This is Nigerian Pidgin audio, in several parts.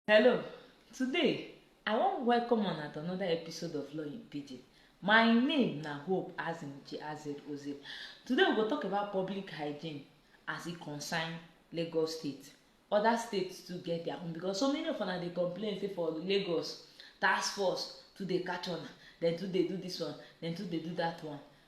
Hello, today I wan welcome una to another episode of Law in Pidgin. My name na Hope Azinche Azed Oze. Today we go talk about public hygiene as e concern Lagos State. Other states too get their own because so many of una dey complain say for Lagos, task force too dey catch una, dem too dey do this one, dem too dey do that one.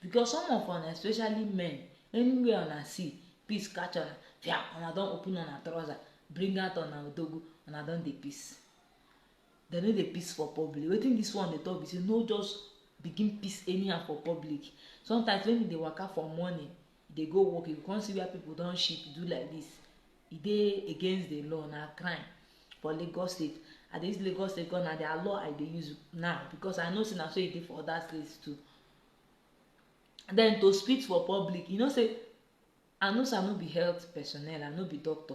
because some of una especially men anywhere una see peace catch una fia una don open una trouser bring out una odogu una don dey peace dem no dey peace for public wetin this one dey talk be say no just begin peace anyhow for public sometimes when you dey waka for morning you dey go work you go come see where people don shit do like this e dey against the law na crime for lagos state i dey use lagos state because na their law i dey use now because i know say na so e dey for other states too then to spit for public you know say i know say i no be health personnel i no be doctor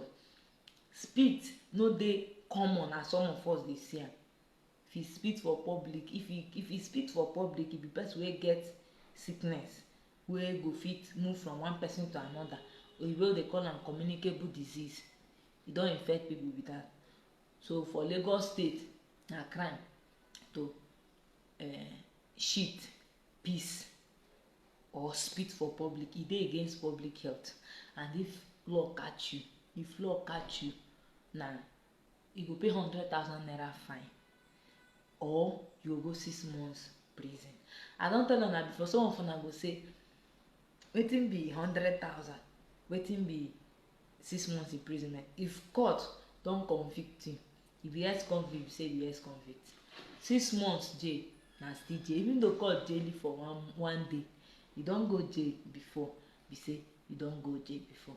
spit no dey common as some of us dey see am If he spit for public, if he if he spit for public, he be person wey get sickness wey go fit move from one person to another. Oyibo dey call am communicable disease. E don infect people be that. So for Lagos state, na crime to um shit, piss or spit for public. E dey against public health and if law catch you, if law catch you na you go pay hundred thousand naira fine or you go go six months prison i don tell una before some of una go say wetin be hundred thousand wetin be six months imprisonment if court don convict you you be ex convict you say you be ex convict six months jail na still jail even though court jail you for one one day you don go jail before be say you don go jail before